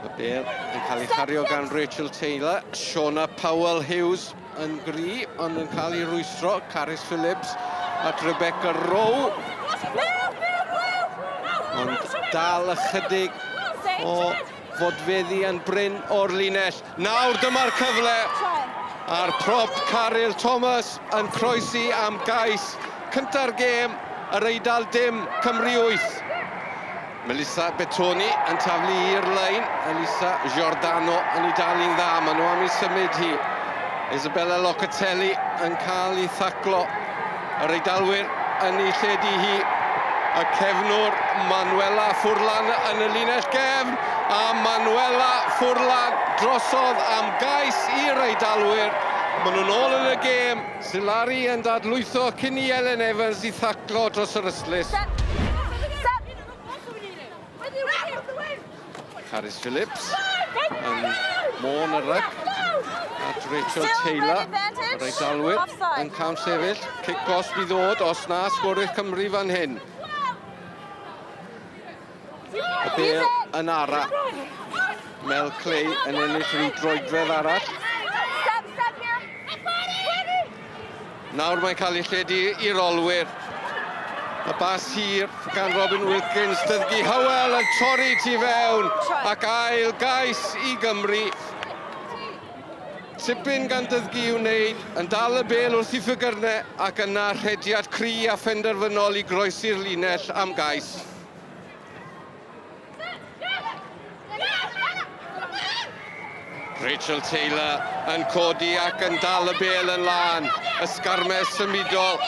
Y bel yn cael ei chario gan Rachel Taylor. Shona Powell Hughes yn gri, ond yn cael ei rwystro. Carys Phillips at Rebecca Rowe. Ond dal ychydig o Fodfeddi yn brin o'r linell. Nawr dyma'r cyfle! A'r prop Caryl Thomas yn croesi am gais cynta'r gêm, Yr Eidal dim, Cymru wyth. Melissa Betoni yn taflu i'r lein, Elisa Giordano yn ei dalu'n dda, maen nhw am ei symud hi. Isabella Locatelli yn cael ei thaclo. Yr Eidalwyr yn ei lledu hi. Y cefnwr Manuela Furlan yn y linell gefn a Manuela Furlan drosodd am gais i'r Eidalwyr. Maen nhw'n ôl yn y gêm. Silari yn dadlwytho cyn i Elen Evans i thaclo dros yr ystlys. Carys Phillips yn Môn y rhyg at Rachel Taylor. Yr Eiddalwyr yn cael sefyll. Cic gos bydd ddod os na sgorydd Cymru fan hyn. Y bel yn ara. Mel Clay yn ennill rhyw droedfedd arall. Nawr mae'n cael ei lledu i'r olwyr. Y bas hir gan Robin Wilkins, Dyddgu Hywel yn torri tu fewn ac ail gais i Gymru. Tipyn gan Dyddgu i'w wneud, yn dal y bel wrth i Ffygyrne ac yna rhediad cry a phenderfynol i groesi'r linell am gais. Rachel Taylor yn codi ac yn dal y bel yn lân. Ysgarmes symudol.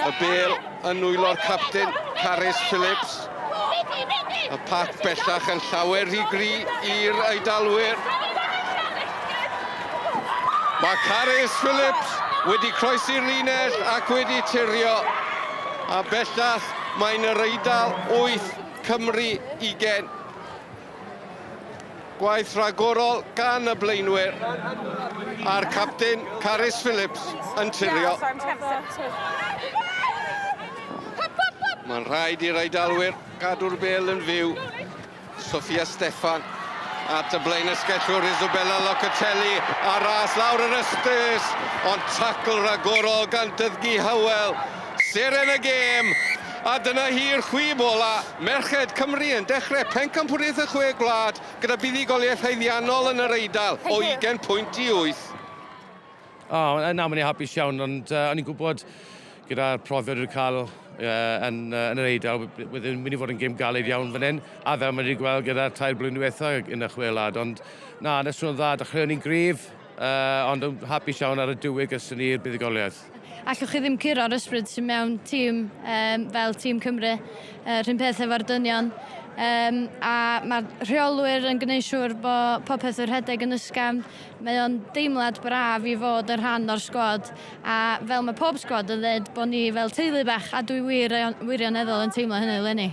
Y bel yn nwylo'r captain Carys Phillips. Y pac bellach yn llawer rhy gri i'r Eidalwyr. Mae Carys Phillips wedi croesi'r linell ac wedi tirio. A bellach Mae'n yr Eidal 8, Cymru 20. Gwaith rhagorol gan y blaenwyr a'r capten Carys Phillips yn tirio. Mae'n rhaid i'r Eidalwyr gadw'r bel yn fyw. Sophia Steffan at y blaenysgellwr Isabella Locatelli a ras lawr yr ystus, ond tacl ragorol gan Dyddgu Hywel, seren y gêm, a dyna hi'r chwib ola'. Merched Cymru yn dechrau Pencampwriaeth y Chwe Gwlad gyda buddugoliaeth haeddiannol yn yr Eidal o 20 pwynt i wyth. O, nawr mae'n i'n hapus iawn, ond o'n i'n gwybod Gyda'r profiad wedi cael yn, yn yr Eidal, bydd yn mynd i fod yn gêm galed iawn fan hyn, a fel mae wedi gweld gyda'r tair blwyddyn diwetha yn y chwelad, ond na, yn yswrn dda, dechreuon ni'n gryf, uh, ond yn hapus iawn ar y diwy gyda ni'r buddugoliaeth. Allwch chi ddim curo'r ysbryd sy'n mewn tîm um, fel tîm Cymru, uh, rhywun peth efo'r dynion. Um, a mae'r rheolwyr yn gwneud siŵr bod popeth yn rhedeg yn ysgafn. Mae o'n deimlad braf i fod yn rhan o'r sgwad A fel mae pob sgwad yn dweud, bod ni fel teulu bach a dwi wir, wirioneddol yn teimlo hynny 'leni.